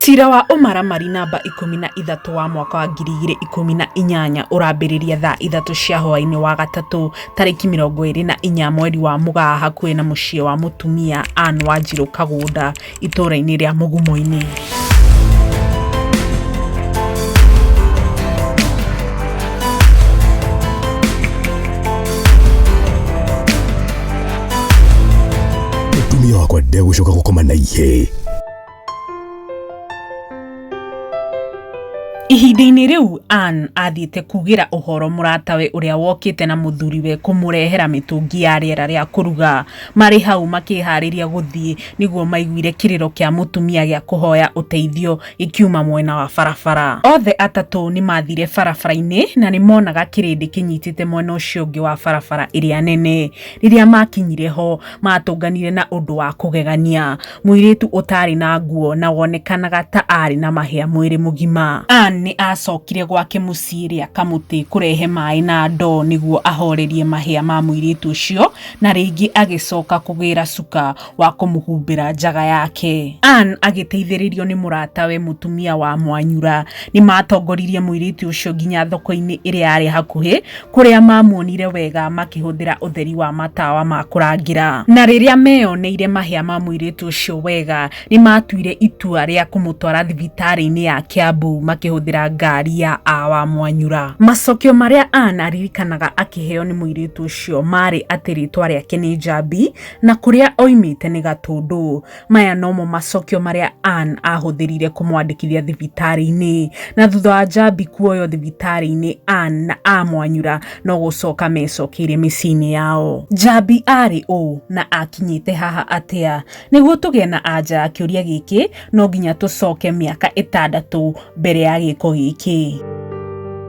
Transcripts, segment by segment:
Cira wa ũmaramari namba ikũmi na ithatũ wa mwaka wa ngiri igĩrĩ ikũmi na inyanya ũrambĩrĩria thaa ithatũ cia hwaĩ-inĩ wa gatatũ tarĩki mĩrongo ĩrĩ na inya mweri wa Mũgaa hakuhĩ na mũciĩ wa mũtumia Ann Wanjirũ Kagũnda itũra-inĩ rĩa Mugumo-inĩ. Mũtumia wakwa ndegũcoka gũkoma na ihĩĩ. Ihinda-inĩ rĩu Anne athiĩte kuugĩra ũhoro mũratawe ũrĩa wokĩte na mũthuriwe kũmũrehera mĩtũngi ya rĩera rĩa kũruga. Marĩ hau makĩharĩria gũthiĩ nĩguo maiguire kĩrĩro kĩa mũtumia gĩa kũhoya ũteithio gĩkiuma mwena wa barabara. Othe atatũ nĩ mathire barabara-inĩ na nĩ monaga kĩrĩndĩ kĩnyitĩte mwena ũcio ũngĩ wa barabara ĩrĩa nene. Rĩrĩa maakinyire ho, maatũnganire na ũndũ wa kũgegania, mũirĩtu ũtaarĩ na nguo na wonekanaga ta aarĩ na mahĩa mwĩrĩ mũgima. Anne nĩ aacokire gwake mũciĩ rĩa kamũtĩ kũrehe maĩ na ndoo nĩguo ahoorerie mahĩa ma mũirĩtu ũcio, na rĩngĩ agĩcoka kũgĩra cuka wa kũmũhumbĩra njaga yake. Anne agĩteithĩrĩrio nĩ mũratawe mũtumia wa Mwanyura, nĩ maatongoririe mũirĩtu ũcio nginya thoko-inĩ ĩrĩa yarĩ hakuhĩ, kũrĩa mamuonire wega makĩhũthĩra ũtheri wa matawa ma kũrangĩra. Na rĩrĩa meyoneire mahĩa ma mũirĩtu ũcio wega, nĩ maatuire itua rĩa kũmũtwara thibitarĩ-inĩ ya Kiambu makĩhũthĩra ngari ya A wa Mwanyura. Macokio marĩa Anne aririkanaga akĩheo nĩ mũirĩtu ũcio maarĩ atĩ rĩĩtwa rĩake nĩ Njambi, na kũrĩa oimĩte nĩ Gatũndũ. Maya nomo macokio marĩa Ann ahũthĩrire kũmwandĩkithia thibitarĩ-inĩ. Na thutha wa Njambi kuoywo thibitarĩ-inĩ, Ann na a Mwanyura no gũcoka mecokeire mĩciĩ-inĩ yao. Njambi arĩ ũũ na akinyĩte haha atĩa? Nĩguo tũgĩe na anja ya kĩũria gĩkĩ, no nginya tũcoke mĩaka ĩtandatũ mbere ya gĩko gĩkĩ.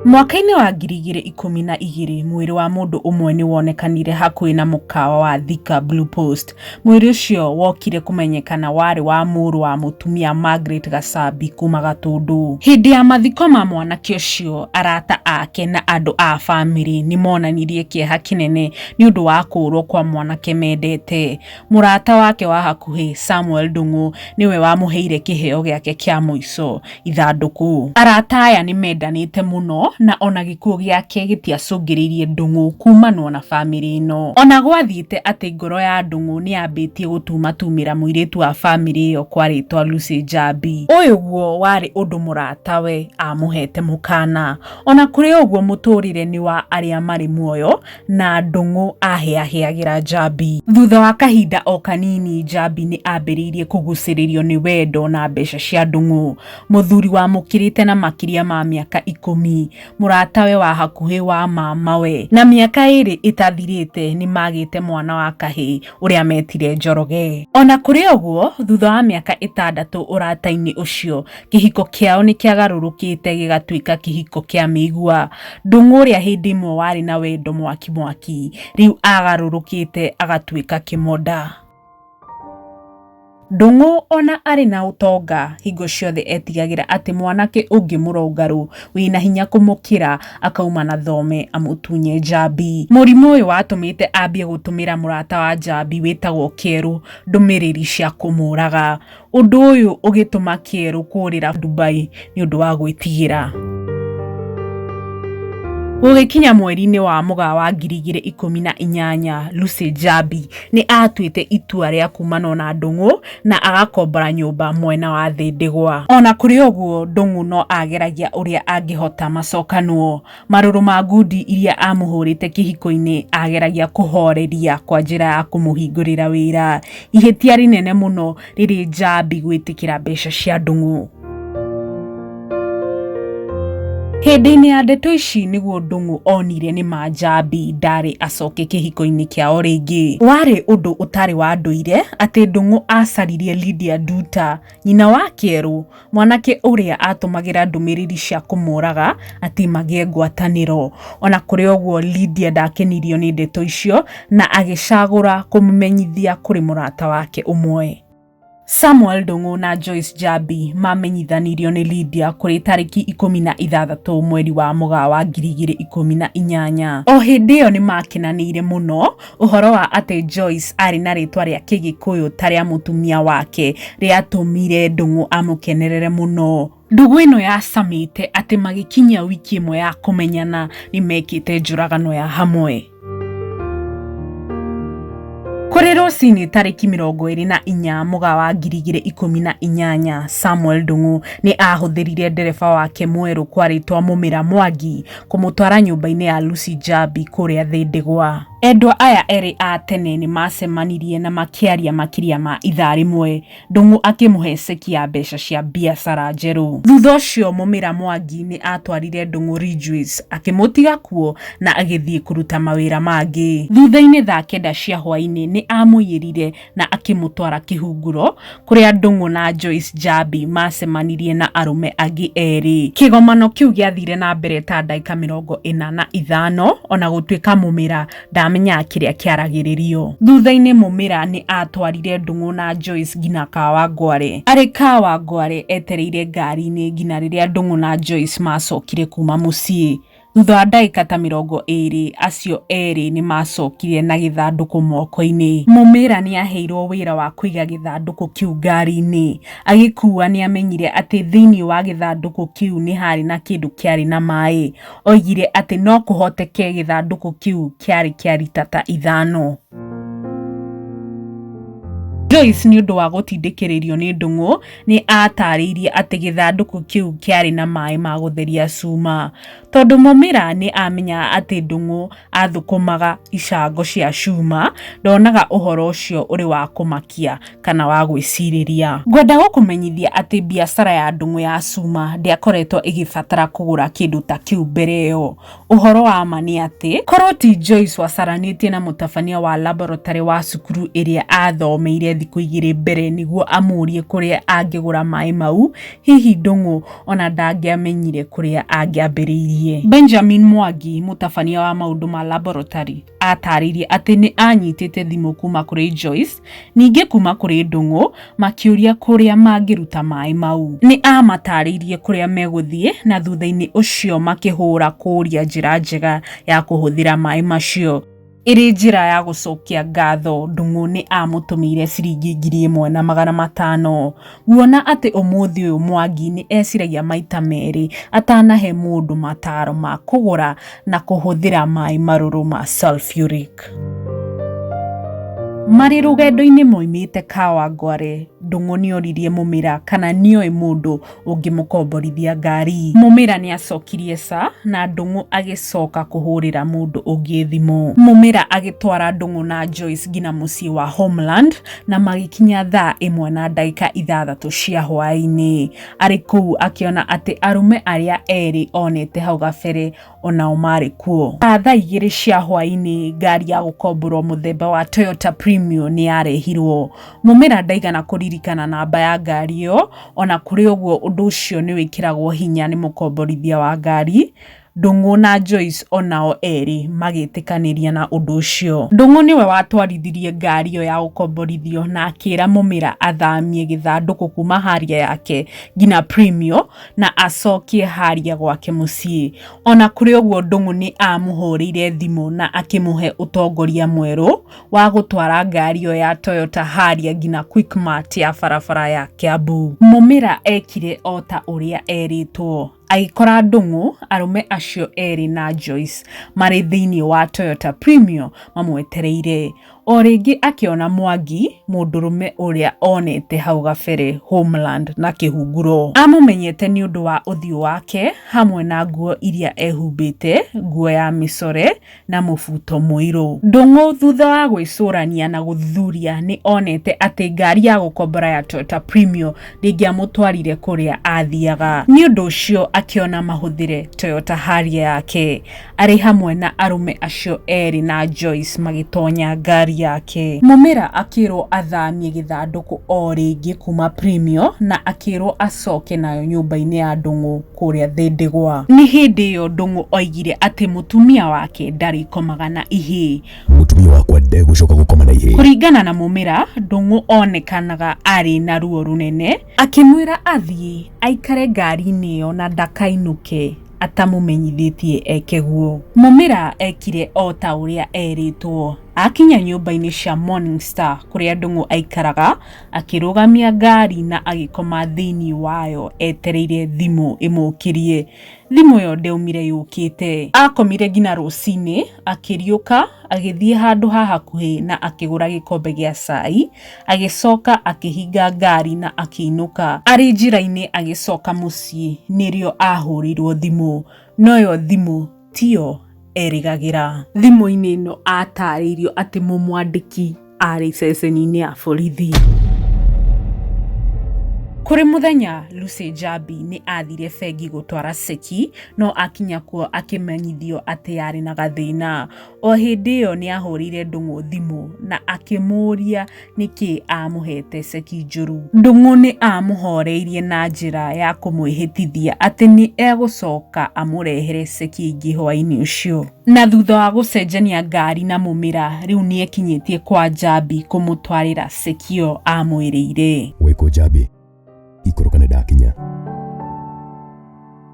Mwaka-inĩ wa ngiri igĩrĩ ikũmi na igĩrĩ, mwĩrĩ wa mũndũ ũmwe nĩ wonekanire hakuhĩ na mũkawa wa Thika Blue Post. Mwĩrĩ ũcio wokire kũmenyekana warĩ wa mũrũ wa mũtumia Margaret Gacambi kuma Gatũndũ. Hĩndĩ ya mathiko ma mwanake ũcio, arata ake na andũ a bamĩrĩ nĩ monanirie kĩeha kĩnene nĩ ũndũ wa kũũrwo kwa mwanake mendete. Mũrata wake wa hakuhĩ Samuel Ndung'u nĩwe wamũheire kĩheo gĩake kĩa mũico, ithandũkũ. Arata aya nĩ mendanĩte mũno na o na gĩkuũ gĩake gĩtiacũngĩrĩirie Ndung'u kuumanwo na famĩlĩ ĩno. O na gwathiĩte atĩ ngoro ya Ndung'u nĩ yambĩtie gũtumatumĩra mũirĩtu wa famĩlĩ ĩyo kwarĩtwo Lucy Njambi. Ũyũguo warĩ ũndũ mũratawe aamũheete mũkaana. O na kũrĩ ũguo mũtũũrĩre nĩ wa arĩa marĩ muoyo na ndũng'ũ ahĩahĩagĩra Njambi. Thutha wa kahinda o kanini, Njambi nĩ ambĩrĩirie kũgucĩrĩrio nĩ wendo na mbeca cia ndũng'ũ. Mũthuri wamũkĩrĩte na makĩria ma mĩaka ikũmi, mũratawe wa hakuhĩ wa mamawe, na mĩaka ĩrĩ ĩtathirĩte nĩ magĩte mwana wa kahĩ ũrĩa metire Njoroge. O na kũrĩ ũguo, thutha wa mĩaka ĩtandatũ ũrata-inĩ ũcio, kĩhiko kĩao nĩ kĩagarũrũkĩte gĩgatuĩka kĩhiko kĩa mĩigua. Ndũng'ũ ũrĩa hĩndĩ ĩmwe warĩ na wendo mwaki mwaki, rĩu agarũrũkĩte agatuĩka kĩmonda. Ndũng'ũ ona arĩ na ũtonga, hingo ciothe etigagĩra atĩ mwanake ũngĩ mũrũngarũ wĩna hinya kũmũkĩra akauma na thome amũtunye njambi. Mũrimũ ũyũ watũmĩte ambie gũtũmĩra mũrata wa njambi wĩtagwo Kerũ ndũmĩrĩri cia kũmũraga. Ũndũ ũyũ ũgĩtũma kĩerũ kũũrĩra Dubai nĩ ũndũ wa gwĩtigĩra. Gũgĩkinya mweri-inĩ wa Mũgaa wa ngiri igĩrĩ ikũmi na inyanya, Lucy Njambi nĩ aatuĩte itua rĩa kumanwo na Ndũng'ũ na agakombora nyũmba mwena wa Thĩndĩgwa. O na kũrĩ ũguo, Ndũng'ũ no aageragia ũrĩa angĩhota macokanwo. Marũrũ ma ngundi iria amũhũrĩte kĩhiko-inĩ ageragia kũhoreria kwa njĩra ya kũmũhingũrĩra wĩra. Ihĩtia rĩnene mũno rĩrĩ Njambi gwĩtĩkĩra mbeca cia Ndung'u. Hĩndĩ-inĩ ya ndeto ici nĩguo Ndung'u onire nĩ ma Njambi ndarĩ acoke kĩhiko-inĩ kĩao rĩngĩ. Warĩ ũndũ ũtarĩ wa ndũire atĩ Ndung'u acaririe Lydia Nduta Nyina wa Kĩerũ, mwanake ũrĩa aatũmagĩra ndũmĩrĩri cia kũmũũraga atĩ magĩe ngwatanĩro. O na kũrĩ ũguo, Lydia ndaakenirio nĩ ndeto icio na agĩcagũra kũmũmenyithia kũrĩ mũrata wake ũmwe. Samuel Ndung'u na Joyce Njambi maamenyithanirio nĩ Lydia kũrĩ tarĩki ikũmi na ithathatũ mweri wa Mũgaa wa ngiri igĩrĩ ikũmi na inyanya. O hĩndĩ ĩyo nĩ maakenanĩire mũno Ũhoro wa atĩ Joyce aarĩ na rĩĩtwa rĩa Kĩgĩkũyũ ta rĩa mũtumia wake rĩatũmire Ndung'u amũkenerere mũno. Ndũgũ ĩno yacamĩte atĩ magĩkinyia wiki ĩmwe ya kũmenyana nĩ mekĩte njũragano ya hamwe. Kũrĩ rũcinĩ tarĩki mĩrongo ĩrĩ na inya mũga wa ngiri igĩrĩ ikũmi na inyanya, Samuel Ndung'u nĩ aahũthĩrire ndereba wake mwerũ kwarĩtwa Mũmĩra Mwangi kũmũtwara nyũmba-inĩ ya Lucy Njambi kũrĩa thĩ ndigwa. Endwa aya erĩ a tene nĩ maacemanirie na makĩaria makĩria ma ithaa rĩmwe, Ndung'u akĩmũhe ceki ya mbeca cia biacara njerũ. Thutha ũcio Mũmĩra Mwangi nĩ aatwarire Ndung'u Ridgeways, akĩmũtiga kuo na agĩthiĩ kũruta mawĩra mangĩ. Thutha-inĩ thaa kenda cia hwaĩ-inĩ nĩ aamũiyĩrire na akĩmũtwara kĩhunguro kũrĩa Ndung'u na Joyce Njambi maacemanirie na arũme angĩ erĩ. Kĩgomano kĩu gĩathire na mbere ta ndagĩka mĩrongo ĩna na ithano o na gũtuĩka Mũmĩra ndaamenyaga kĩrĩa kĩaragĩrĩrio. Thutha-inĩ Mũmĩra nĩ aatwarire Ndung'u na Joyce nginya Kawangware. Arĩ Kawangware etereire ngari-inĩ nginya rĩrĩa Ndung'u na Joyce maacokire kuuma mũciĩ. Thutha wa ndagĩka ta mĩrongo ĩĩrĩ, acio erĩ nĩ maacokire na gĩthandũkũ moko-inĩ. Mũmira nĩ aaheirũo wĩra wa kũiga gĩthandũkũ kĩu ngari-inĩ. Agĩkuua nĩ aamenyire atĩ thĩinĩ wa gĩthandũkũ kĩu nĩ haarĩ na kĩndũ kĩarĩ na maĩ. Oigire atĩ no kũhoteke gĩthandũkũ kĩu kĩarĩ kĩa lita ta ithano. Joyce nĩ ũndũ wa gũtindĩkĩrĩrio nĩ ndũng'ũ, nĩ aataarĩirie atĩ gĩthandũkũ kĩu kĩarĩ na maĩ ma gũtheria cuma, tondũ Mũmira nĩ aamenyaga atĩ Ndung'u athũkũmaga icango cia cuma, ndonaga ũhoro ũcio ũrĩ wa kũmakia kana wa gwĩcirĩria. Ngwenda gũkũmenyithia atĩ biacara ya Ndung'u ya cuma ndĩakoretwo ĩgĩbatara kũgũra kĩndũ ta kĩu mbere ĩyo. Ũhoro wa ma nĩ atĩ, korũo ti Joyce wacaranĩtie na mũtabania wa laboratory wa cukuru ĩrĩa aathomeire thikũ igĩrĩ mbere nĩguo amũũrie kũrĩa angĩgũra maĩ mau, hihi Ndung'u o na ndangĩamenyire kũrĩa angĩambĩrĩirie. Benjamin Mwangi, mũtabania wa maũndũ ma laboratory. Aatarĩirie atĩ nĩ aanyitĩte thimũ kuuma kũrĩ Joyce, ningĩ kuuma kũrĩ Ndung'u, makĩũria kũrĩa mangĩruta maĩ mau. Nĩ aamataarĩirie kũrĩa megũthiĩ, na thutha-inĩ ũcio makĩhũũra kũũria njĩra njega ya kũhũthĩra maĩ macio. Ĩrĩ njĩra ya gũcokia ngatho, Ndung'u nĩ aamũtũmĩire ciringi ngiri ĩmwe na magana matano. Nguona atĩ ũmũthĩ ũyũ Mwangi nĩ eciragia maita merĩ atanahe mũndũ mataaro ma kũgũra na kũhũthĩra maĩ marũrũ ma sulfuric. Marĩ rũgendo-inĩ moimĩte Kawangware, Ndung'u nĩ oririe Mũmĩra kana nĩ oĩ mũndũ ũngĩmũkomborithia ngari. Mũmĩra nĩ acokirie ca, na Ndung'u agĩcoka kũhũrĩra mũndũ ũngĩ thimũ. Mũmĩra agĩtwara Ndung'u na Joyce nginya mũciĩ wa Homeland, na magĩkinya thaa ĩmwe na ndagĩka ithathatũ cia hwaĩ-inĩ arĩ kũu akĩona atĩ arũme arĩa erĩ onete hau gabere onao marĩ kuo thaa igĩrĩ cia hwaĩ-inĩ ngari ya gũkomborwo mũthemba wa Toyota Premio nĩ yarehirwo mũmera ndaigana kũririkana namba ya ngari ĩyo ona kũrĩ ũguo ũndũ ũcio nĩ wĩkĩragwo hinya nĩ mũkomborithia wa ngari Ndung'u na Joyce o nao erĩ magĩtĩkanĩria na ũndũ ũcio. Ndung'u nĩwe watwarithirie ngari ĩyo ya ũkomborithio na akĩra Mũmĩra athamie gĩthandũkũ kuma haria yake nginya Premio na acokie haria gwake mũciĩ. Ona kũrĩ ũguo Ndung'u nĩ amũhũrĩire thimũ na akĩmũhe ũtongoria mwerũ wa gũtwara ngari ĩyo ya Toyota haria nginya Quickmart ya barabara ya Kiambu. Mũmĩra ekire o ta ũrĩa erĩtwo. Agĩkora ndũng'ũ arũme acio erĩ na Joyce marĩ thĩinĩ wa Toyota Premio mamwetereire. O rĩngĩ akĩona Mwangi, mũndũrũme ũrĩa onete hau gabere Homeland na kĩhunguro. Amũmenyete nĩ ũndũ wa ũthiũ wake hamwe na nguo iria ehumbĩte, nguo ya mĩcore, na mũbuto mũirũ. Ndung'u thutha wa gwĩcũrania na gũthuthuria nĩ onete atĩ ngari ya gũkombora ya Toyota Premio ndĩngĩamũtwarire kũrĩa aathiaga. Nĩ ũndũ ũcio akĩona mahũthĩre Toyota Harrier yake. Arĩ hamwe na arũme acio erĩ na Joyce magĩtonya ngari yake. Mũmera akĩrwo athamie gĩthandũkũ o rĩngĩ kuuma Premio na akĩrwo acoke nayo nyũmba-inĩ ya Ndung'u. kũrĩa thĩ ndigwa. Nĩ hĩndĩ ĩyo Ndũng'ũ oigire atĩ mũtumia wake ndarĩkomaga na ihĩĩ. Mũtumia wakwa ndegũcoka gũkoma na ihĩĩ. Kũringana na Mũmĩra, Ndũng'ũ onekanaga arĩ na ruo rũnene. Akĩmwĩra athiĩ aikare ngari-inĩ ĩyo na ndakainũke atamũmenyithĩtie eke guo. Mũmĩra ekire o ta ũrĩa erĩtwo. Akinya nyũmba-inĩ cia Morning Star kũrĩa Ndũng'ũ aikaraga, Akĩrũgamia ngari na agĩkoma thĩinĩ wayo etereire thimũ ĩmũkĩrie. Thimũ ĩyo ndeumire yũkĩte. Akomire nginya rũcinĩ, akĩriũka agĩthiĩ handũ ha hakuhĩ na akĩgũra gĩkombe gĩa cai, agĩcoka akĩhinga ngari na akĩinũka. Arĩ njĩra-inĩ agĩcoka mũciĩ nĩrĩo ahũrĩirũo thimũ. No ĩyo thimũ tiyo erĩgagĩra. Thimũ-inĩ ĩno atarĩirio atĩ mũmwandĩki arĩ ceceni-inĩ ya borithi. Kũrĩ mũthenya Lucy Njambi nĩ athire bengi gũtwara ceki no akinya kuo akĩmenyithio atĩ yarĩ na gathĩna. O hĩndĩ ĩyo nĩ ahũrĩire Ndung'u thimũ na akĩmũũria nĩkĩ aamũhete ceki njũru. Ndung'u nĩ aamũhoreirie na njĩra ya kũmwĩhĩtithia atĩ nĩ egũcoka amũrehere ceki ĩngĩ hwaĩ-inĩ ũcio. Na thutha wa gũcenjania ngari na mũmĩra, rĩu nĩ ekinyĩtie kwa Njambi kũmũtwarĩra ceki ĩyo aamwĩrĩire. Wĩ kũ Njambi? ikũrũka nĩ ndakinya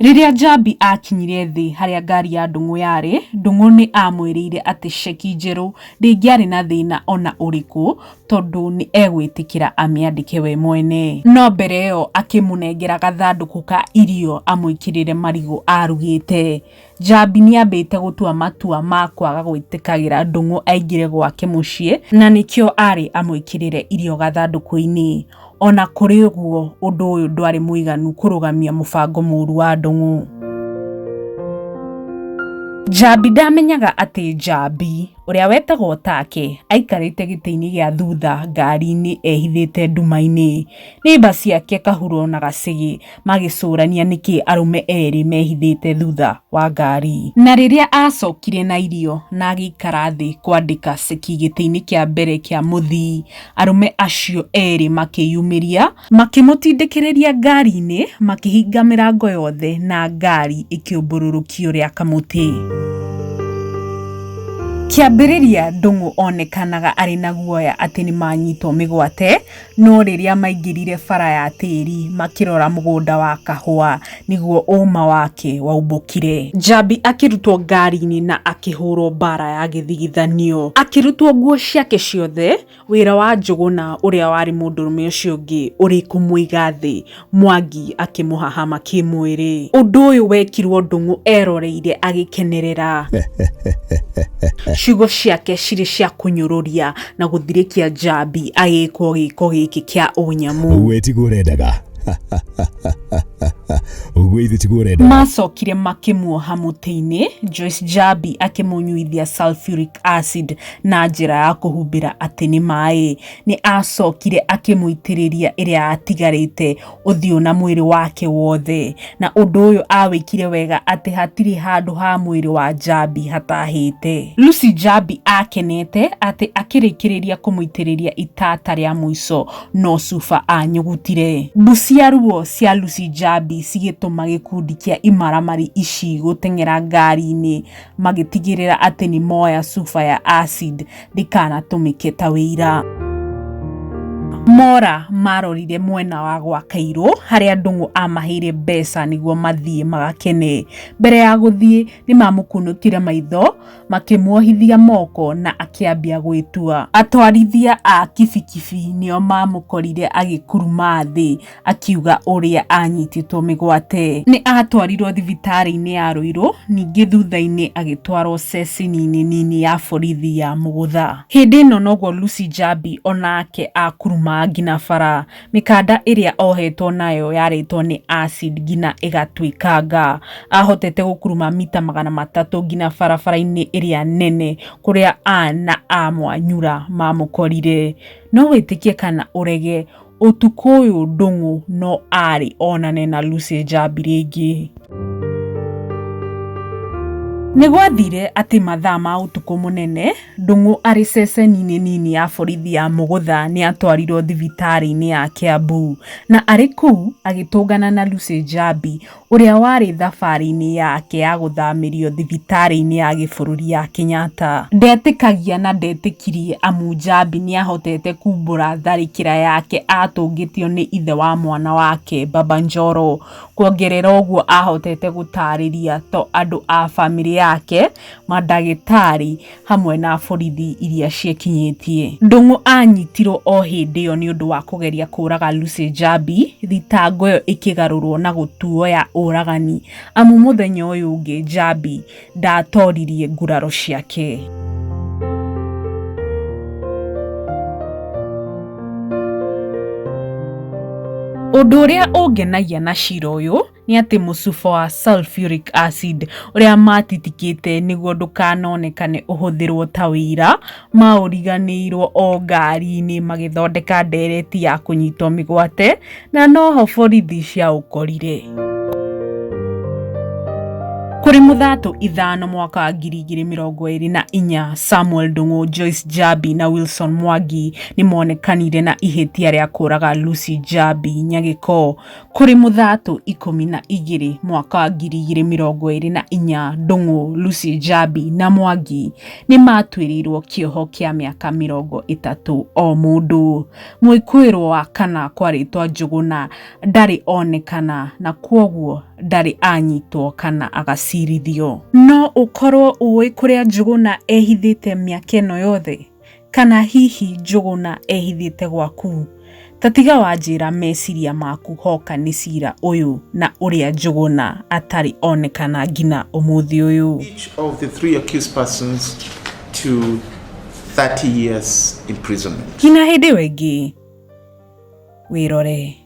Rĩrĩa Njambi aakinyire thĩ harĩa ngari ya Ndung'u yarĩ, Ndung'u nĩ aamwĩrĩire atĩ ceki njerũ ndĩngĩarĩ na thĩna o na ũrĩkũ tondũ nĩ egwĩtĩkĩra amĩandĩke we mwene. No mbere ĩyo akĩmũnengera gathandũkũ ka irio amwĩkĩrĩre marigũ aarugĩte. Njambi nĩ aambĩte gũtua matua ma kwaga gwĩtĩkagĩra Ndung'u aingĩre gwake mũciĩ na nĩkĩo aarĩ amwĩkĩrĩre irio gathandũkũ-inĩ. O na kũrĩ ũguo, ũndũ ũyũ ndwarĩ mũiganu kũrũgamia mũbango mũũru wa Ndung'u. Njambi ndaamenyaga atĩ Njambi, ũrĩa wetagwo Take, aikarĩte gĩtĩ-inĩ gĩa thutha ngari-inĩ ehithĩte nduma-inĩ. Neiba ciake Kahuro na Gacĩgĩ, magĩcũrania nĩkĩ arũme erĩ mehithĩte thutha wa ngari. Na rĩrĩa aacokire na irio na agĩikara thĩ kwandĩka ceki gĩtĩ-inĩ kĩa mbere kĩa mũthii, arũme acio erĩ makĩyumĩria, makĩmũtindĩkĩrĩria ngari-inĩ makĩhinga mĩrango yothe na ngari ĩkĩũmbũrũrũkio rĩa kamũtĩ. Kĩambĩrĩria Ndung'u onekanaga arĩ na guoya atĩ nĩ manyitwo mĩgwate, no rĩrĩa maingĩrire bara ya tĩri makĩrora mũgũnda wa kahũa nĩguo ũma wake waumbũkire. Njambi akĩrutwo ngari-inĩ na akĩhũrwo mbara ya gĩthigithanio. Akĩrutwo nguo ciake ciothe, wĩra wa Njũgũna ũrĩa warĩ mũndũrũme ũcio ũngĩ ũrĩ kũmũiga thĩ. Mwangi akĩmũhahama kĩmwĩrĩ. Ũndũ ũyũ wekirwo Ndũng'ũ eroreire agĩkenerera. Ciugo ciake cirĩ cia kũnyũrũria na gũthirĩkia Njambi agĩkwo gĩko gĩkĩ kĩa ũnyamũ. Ũguo tiguo ũrendaga. Ũguo ithe tiguo ũrendaga. Maacokire makĩmuoha mũtĩ-inĩ, Joyce Njambi akĩmũnyuithia sulfuric acid na njĩra ya kũhumbĩra atĩ nĩ maĩ. Nĩ aacokire akĩmũitĩrĩria ĩrĩa yatigarĩte ũthiũ na mwĩrĩ wake wothe, na ũndũ ũyũ aawĩkire wega atĩ hatirĩ handũ ha mwĩrĩ wa Njambi hataahĩte. Lucy Njambi aakenete atĩ akĩrĩkĩrĩria kũmũitĩrĩria itata rĩa mũico, no Cuba aanyugutire. Mbucia ruo cia Lucy Njambi cigĩtũma gĩkundi kĩa imaramari ici gũteng'era ngari-inĩ magĩtigĩrĩra atĩ nĩ moya cuba ya acid ndĩkanatũmĩke ta wĩira. Mora marorire mwena wa gwa Kairũ harĩa Ndung'u amaheire mbeca nĩguo mathiĩ magakene. Mbere ya gũthiĩ nĩ mamũkunũkire maitho makĩmuohithia moko na akĩambia gwĩtua. Atwarithia a kibikibi nĩo mamũkorire agĩkuruma thĩ akiuga ũrĩa anyitĩtwo mĩgwate. Nĩ aatwarirũo thibitarĩ-inĩ ya Rũirũ, ningĩ thutha-inĩ agĩtwarũo ceceni-inĩ nini ya borithi ya Mũgũtha. Hĩndĩ ĩno noguo Lucy Njambi o nake akuruma nginya bara. Mĩkanda ĩrĩa ohetwo nayo yarĩtwo nĩ acid nginya ĩgatuĩkanga. Aahotete gũkuruma mita magana matatũ nginya barabara-inĩ ĩrĩa nene kũrĩa a na a Mwanyura maamũkorire. No wĩtĩkie kana ũrege, Ũtukũ ũyũ Ndũng'ũ no arĩ onane na Lucy Njambi rĩngĩ. Nĩ gwathire atĩ mathaa ma ũtukũ mũnene, Ndũng'ũ arĩ ceceni-inĩ nini ya borithi ya Mũgũtha nĩ atwarirwo thibitarĩ-inĩ ya Kiambu. Na arĩ kũu, agĩtũngana na Lucy Njambi, ũrĩa warĩ thabarĩ-inĩ yake ya gũthamĩrio thibitarĩ-inĩ ya gĩbũrũri ya Kenyatta. Ndetĩkagia na ndetĩkirie amu Njambi nĩahotete kumbũra tharĩkĩra yake atũngĩtio nĩ ithe wa mwana wake, Baba Njoro. Kuongerera ũguo ahotete gũtarĩria to andũ a bamĩrĩ yake, mandagĩtarĩ, hamwe na borithi iria ciĩkinyĩtie. Ndung'u aanyitirũo o hĩndĩ ĩyo nĩ ũndũ wa kũgeria kũũraga Lucy Njambi, thitango ĩyo ĩkĩgarũrũo na gũtuo ya ũragani amu mũthenya ũyũ ũngĩ Njambi ndaatoririe nguraro ciake. Ũndũ ũrĩa ũngenagia na cira ũyũ nĩ atĩ mũcuba wa sulfuric acid ũrĩa matitikĩte nĩguo ndũkanonekane ũhũthĩrwo ta wĩira, maũriganĩirwo o ngari-inĩ magĩthondeka ndereti ya kũnyitwo mĩgwate na noho borithi ciaũkorire. Kũrĩ mũthatũ ithano mwaka wa ngiri igĩrĩ mĩrongo ĩrĩ na inya Samuel Ndung'u, Joyce Jabi na Wilson Mwangi nĩ monekanire na ihĩtia rĩa kũraga Lucy Jabi Nyagĩko Kũrĩ Mũthatũ ikũmi na igĩrĩ mwaka wa ngiri igĩrĩ mĩrongo ĩrĩ na inya Ndung'u, Lucy Njambi na Mwangi nĩ maatuĩrĩirwo kĩoho kĩa mĩaka mĩrongo ĩtatũ o mũndũ. Mwĩkũĩrwo wa kana kwa rĩtwa Njũgũna ndarĩ onekana na kwoguo ndarĩ anyitwo kana agacirithio. No ũkorwo ũĩ kũrĩa Njũgũna ehithĩte mĩaka ĩno yothe? Kana hihi Njũgũna ehithĩte gwaku? Ta tiga wanjĩra meciria maku hoka nĩ cira ũyũ na ũrĩa Njũgũna atarĩ onekana ngina ũmũthĩ ũyũ. Each of the three accused persons to 30 years imprisonment. Ngina hĩndĩ ĩyo ĩngĩ wĩrore.